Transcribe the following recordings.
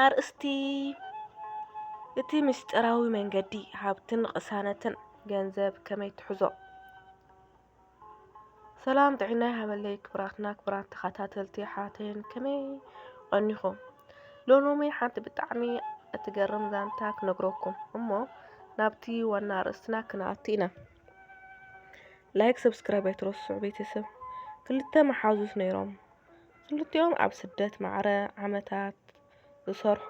ኣርእስቲ እቲ ምስጢራዊ መንገዲ ሃብትን ቕሳነትን ገንዘብ ከመይ ትሕዞ? ሰላም ጥዒና ይሃበለይ ክብራትና ክብራት ተኸታተልቲ ኣሕዋተይን ከመይ ቐኒኹም ሎሎሚ ሓንቲ ብጣዕሚ እትገርም ዛንታ ክነግረኩም እሞ ናብቲ ዋና ኣርእስትና ክንኣቱ ኢና። ላይክ ሰብስክራይብ ኣይትረስዑ ቤተሰብ። ክልተ መሓዙት ነይሮም። ክልቲኦም ኣብ ስደት ማዕረ ዓመታት ዝሰርሑ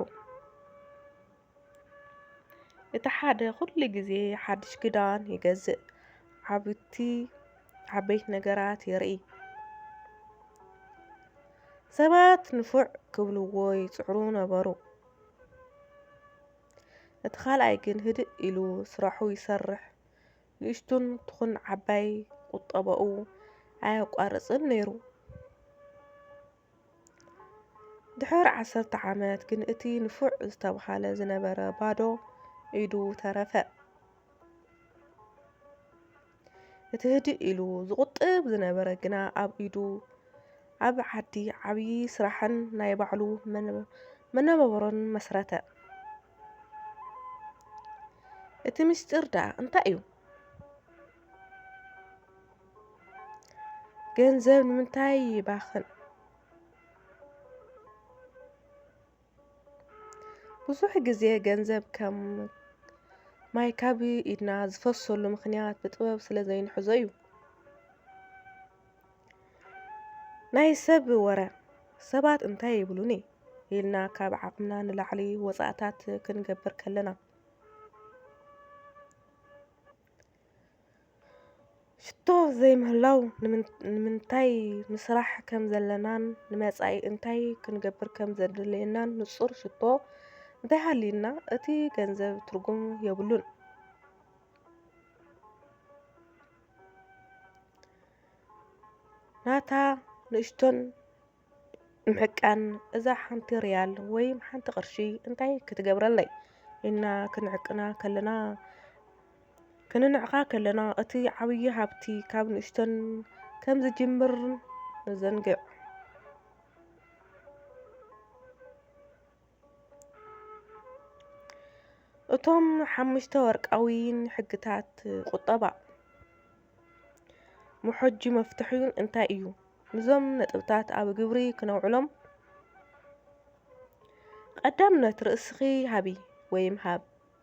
እቲ ሓደ ኩሉ ግዜ ሓድሽ ክዳን ይገዝእ፣ ዓብቲ ዓበይቲ ነገራት የርኢ። ሰባት ንፉዕ ክብልዎ ይጽዕሩ ነበሩ። እቲ ካልኣይ ግን ህድእ ኢሉ ስራሑ ይሰርሕ፣ ንእሽቱን ትኹን ዓባይ ቁጠባኡ ኣየቋርጽን ነይሩ። ድሕሪ ዓሰርተ ዓመት ግን እቲ ንፉዕ ዝተብሃለ ዝነበረ ባዶ ኢዱ ተረፈ። እቲ ህድእ ኢሉ ዝቑጥብ ዝነበረ ግና ኣብ ኢዱ ኣብ ዓዲ ዓብዪ ስራሕን ናይ ባዕሉ መነባብሮን መስረተ። እቲ ምስጢር ደኣ እንታይ እዩ? ገንዘብ ንምንታይ ይባኽን? ብዙሕ ግዜ ገንዘብ ከም ማይ ካብ ኢድና ዝፈሰሉ ምኽንያት ብጥበብ ስለ ዘይንሕዞ እዩ። ናይ ሰብ ወረ፣ ሰባት እንታይ ይብሉኒ? ኢልና ካብ ዓቕምና ንላዕሊ ወጻእታት ክንገብር ከለና። ሽቶ ዘይምህላው ንምንታይ ምስራሕ ከም ዘለናን ንመጻኢ እንታይ ክንገብር ከም ዘድልየናን ንጹር ሽቶ እንተሃልዩና እቲ ገንዘብ ትርጉም የብሉን። ናታ ንእሽቶን ምሕቃን እዛ ሓንቲ ሪያል ወይም ሓንቲ ቅርሺ እንታይ ክትገብረለይ ኢልና ክንዕቅና ከለና ክንንዕቃ ከለና እቲ ዓብዪ ሃብቲ ካብ ንእሽቶን ከም ዝጅምር ንዘንግዕ። እቶም ሓሙሽተ ወርቃውይን ሕግታት ቁጠባ መሖጂ መፍትሕዩን እንታይ እዩ? ንዞም ነጥብታት ኣብ ግብሪ ክነውዕሎም ቀዳምነት ርእስኺ ሃቢ ወይም ሃብ።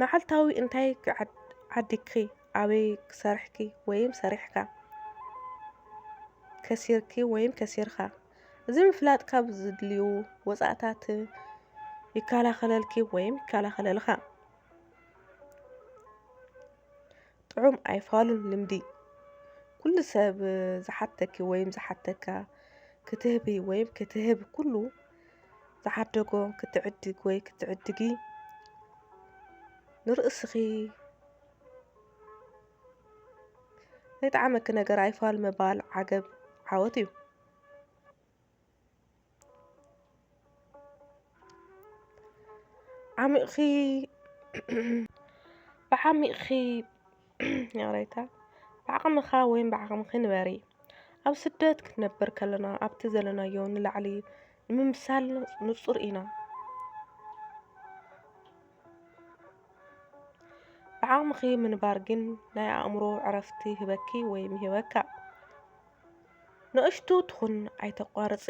መዓልታዊ እንታይ ዓዲግኪ፣ ኣበይ ሰርሕኪ ወይም ሰሪሕካ፣ ከሲርኪ ወይም ከሲርካ፣ እዚ ምፍላጥ ካብ ዝድልዩ ወጻእታት ይከላኸለልኪ ወይም ይከላኸለልኻ። ጥዑም ኣይፋሉን ልምዲ ኩሉ ሰብ ዝሓተኪ ወይም ዝሓተካ ክትህቢ ወይም ክትህብ ኩሉ ዝዓደጎ ክትዕድግ ወይ ክትዕድጊ ንርእስኺ ናይ ጣዕመኪ ነገር ኣይፋል ምባል ዓገብ ዓወት እዩ። ዓሚቕኺ ብዓሚቕኺ ይቕሬታ ብዓቕምኻ ወይም ብዓቕምኺ ንበሪ ኣብ ስደት ክንነብር ከለና ኣብቲ ዘለናዮ ንላዕሊ ንምምሳል ንጹር ኢና ብዓቕምኺ ምንባር ግን ናይ ኣእምሮ ዕረፍቲ ይህበኪ ወይም ይህበካ ንእሽቱ ትኹን ኣይተቋርፂ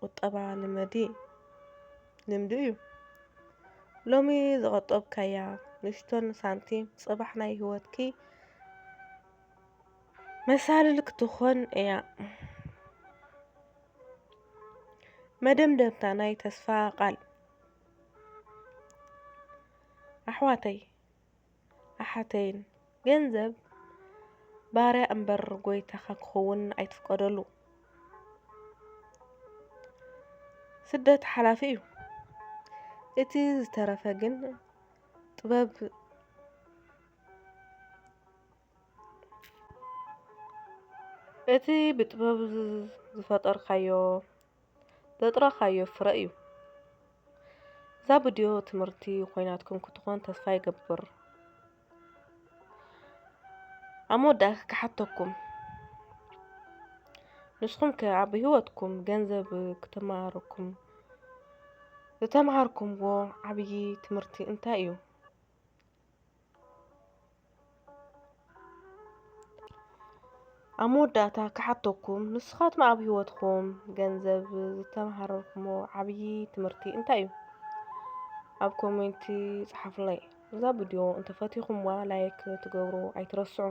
ቁጠባ ልመዲ ልምዲ እዩ ሎሚ ዝቆጠብካያ ንእሽቶን ሳንቲም ፅባሕ ናይ ህይወትኪ መሳልል ክትኾን እያ መደምደምታ ናይ ተስፋ ቃል ኣሕዋተይ ኣሓተይን ገንዘብ ባርያ እምበር ጎይታኻ ክኸውን ኣይትፍቀደሉ። ስደት ሓላፊ እዩ። እቲ ዝተረፈ ግን ጥበብ እቲ ብጥበብ ዝፈጠርካዮ ዘጥረኻዮ ፍረ እዩ። እዛ ብድዮ ትምህርቲ ኮይናትኩም ክትኾን ተስፋ ይገብር። ኣብ መወዳእታ ክሓተኩም ንስኹም ከ ኣብ ህይወትኩም ገንዘብ ክተማሃረኩም ዝተምሃርኩምዎ ዓብዪ ትምህርቲ እንታይ እዩ? ኣብ መወዳእታ ክሓተኩም ንስኻትኩም ኣብ ህይወትኩም ገንዘብ ዝተምሃርኩሞ ዓብዪ ትምህርቲ እንታይ እዩ? ኣብ ኮሜንቲ ጸሓፉለይ። እዛ ቪድዮ እንተፈቲኹምዋ ላይክ ትገብሩ ኣይትረስዑ።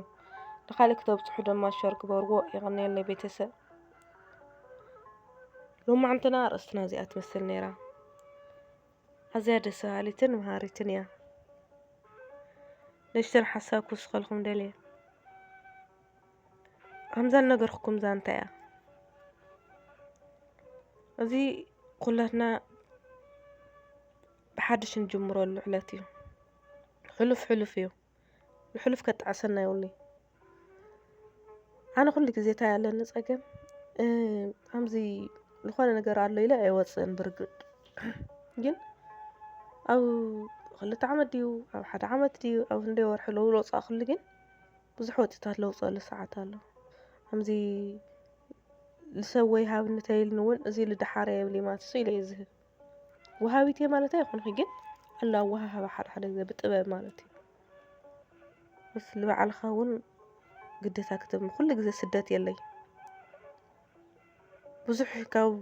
ንኻልእ ክተብጽሑ ድማ ሸር ግበርዎ። የቐንየለይ ቤተሰብ። ሎማዕንትና ርእስትና እዚኣ ትመስል ነይራ። ኣዝያ ደስ በሃሊትን መሃሪትን እያ። ንእሽተን ሓሳብ ክውስኸልኩም ደልየ። ከምዛ ነገርኩኩም ዛንታ እያ። እዚ ኩላትና ብሓድሽ እንጅምረሉ ዕለት እዩ። ሕሉፍ ሕሉፍ እዩ። ብሕሉፍ ከጣዕሰና የብሉይ ኣነ ኩሉ ግዜ እንታይ ኣለኒ ጸገም ኣዚ ዝኾነ ነገር ኣሎ ኢለ ኣይወጽእን ብርግጽ ግን ኣብ ክልተ ዓመት ድዩ ኣብ ሓደ ዓመት ድዩ ኣብ ክንደይ ወርሒ ለውሎጻእክሉ ግን ብዙሕ ወጢታት ለውጸሉ ሰዓት ኣሎ ኣዚ ልሰብ ወይ ሃብኒ ተይልኒ እውን እዚ ልደሓረ የብልይ ማትሱ ኢለ እየ ዝህብ ወሃቢት እየ ማለት ኣይኮንኩ ግን ኣሎ ኣወሃህባ ሓደ ሓደ ግዜ ብጥበብ ማለት እዩ ምስ ንባዕልኻ እውን ግደታ ክትብ ኩሉ ግዜ ስደት የለይ ብዙሕ ካብ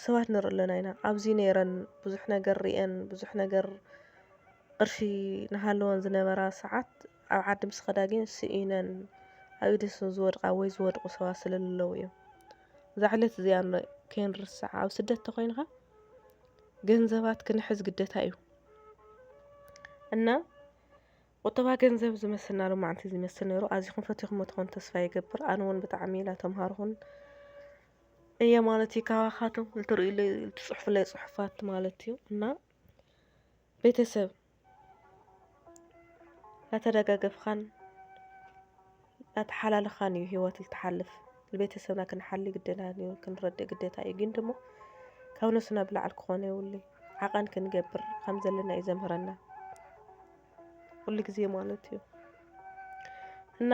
ሰባት ንርኢ ኣለና ኢና ኣብዚ ነይረን ብዙሕ ነገር ርአን ብዙሕ ነገር ቅርሺ ናሃለወን ዝነበራ ሰዓት ኣብ ዓዲ ምስ ኸዳ ግን ስኢነን ኣብ ኢድ ዝወድቃ ወይ ዝወድቁ ሰባት ስለለለዉ እዮም እዛ ዕለት እዚኣ ከይንርስዓ ኣብ ስደት ተኾይንኻ ገንዘባት ክንሕዝ ግደታ እዩ እና ቁጠባ ገንዘብ ዝመስልና ሎማዕንቲ ዝመስል ነይሩ ኣዚኹም ፈቲኹም ትኾን ተስፋ ይገብር ኣነ እውን ብጣዕሚ ኢላ ተምሃርኹን እየ ማለት እዩ ካባኻትም ልትርእዩለይ ልትፅሑፍለይ ፅሑፋት ማለት እዩ እና ቤተሰብ ናተደጋገፍኻን ናተሓላለኻን እዩ ህይወት ልትሓልፍ ንቤተሰብና ክንሓሊ ግድና እዩ ክንረድእ ግዴታ እዩ ግን ደሞ ካብ ነሱና ብላዕሊ ክኾነ የብሉ ዓቐን ክንገብር ከም ዘለና እዩ ዘምህረና ኩሉ ግዜ ማለት እዩ። እና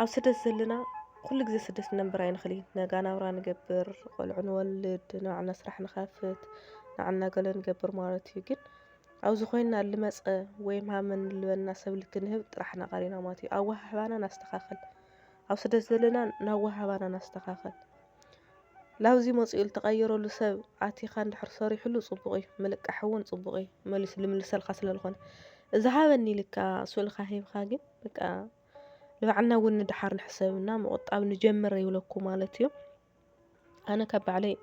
ኣብ ስደት ዘለና ኩሉ ግዜ ስደት ክንነብር ኣይንኽእልን ኢና። ነጋ ናብራ ንገብር፣ ቆልዑ ንወልድ፣ ናይ ባዕልና ስራሕ ንኸፍት፣ ንዓና ገለ ንገብር ማለት እዩ። ግን ኣብዚ ኮይንና ልመጸ ወይ ማመን ልበለና ሰብ ልክንህብ ጥራሕ ኢና ቀሪና ማለት እዩ። ኣወሃህባና ነስተኻኽል፣ ኣብ ስደት ዘለና ነወሃህባና ነስተኻኽል። ላብዚ መጺኡ ልትቀየረሉ ሰብ ኣቲካ እንድሕር ሰሪሕሉ ጽቡቅ እዩ ምልቃሕ እውን ጽቡቅ እዩ መሊሱ ልምልሰልካ ስለ ልኮነ እዚ ሃበኒ ኢልካ ስእልካ ሂብካ ግን በቃ ንባዕልና እውን ንድሓር ንሕሰብ እና ምቁጣብ ንጀምር ይብለኩ ማለት እዩ ኣነ ካብ ባዕለይ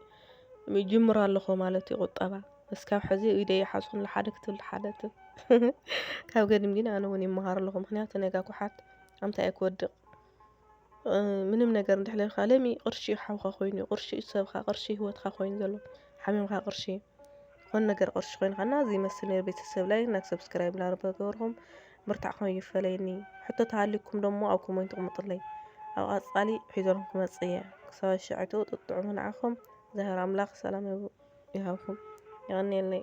ይጅምሮ ኣለኹ ማለት እዩ ቁጠባ እስካብ ሕዚ ኢደ ይሓጹን ልሓደ ክትብል ልሓደ ትብ ካብ ገድም ግን ኣነ እውን ይመሃር ኣለኹ ምክንያቱ ነጋ ኩሓት ኣምታይ እየ ክወድቅ ምንም ነገር እንድሕለልካ ለሚ ቅርሺ እዩ ሓውኻ ኮይኑ ቅርሺ እዩ ሰብኻ ቅርሺ እዩ ህይወትካ ኮይኑ ዘሎ ሓሚምካ ቅርሺ ዝኾነ ነገር ቅርሺ ኮይንካና እዚ ይመስል ነይሩ ቤተሰብ ላይ እና ሰብስክራይብ እናገበርኩም ምርታዕኩም ይፈለየኒ ሕቶ ተሃሊኩም ደሞ ኣብ ኮሜንት ቕምጡለይ ኣብ ቐፃሊ ሒዘልኩም ክመፅእ እየ ክሳብ ሸዕቱ ጥጥዑሙ ንዓኹም ዛህር ኣምላኽ ሰላም ይሃብኩም የቐንየለይ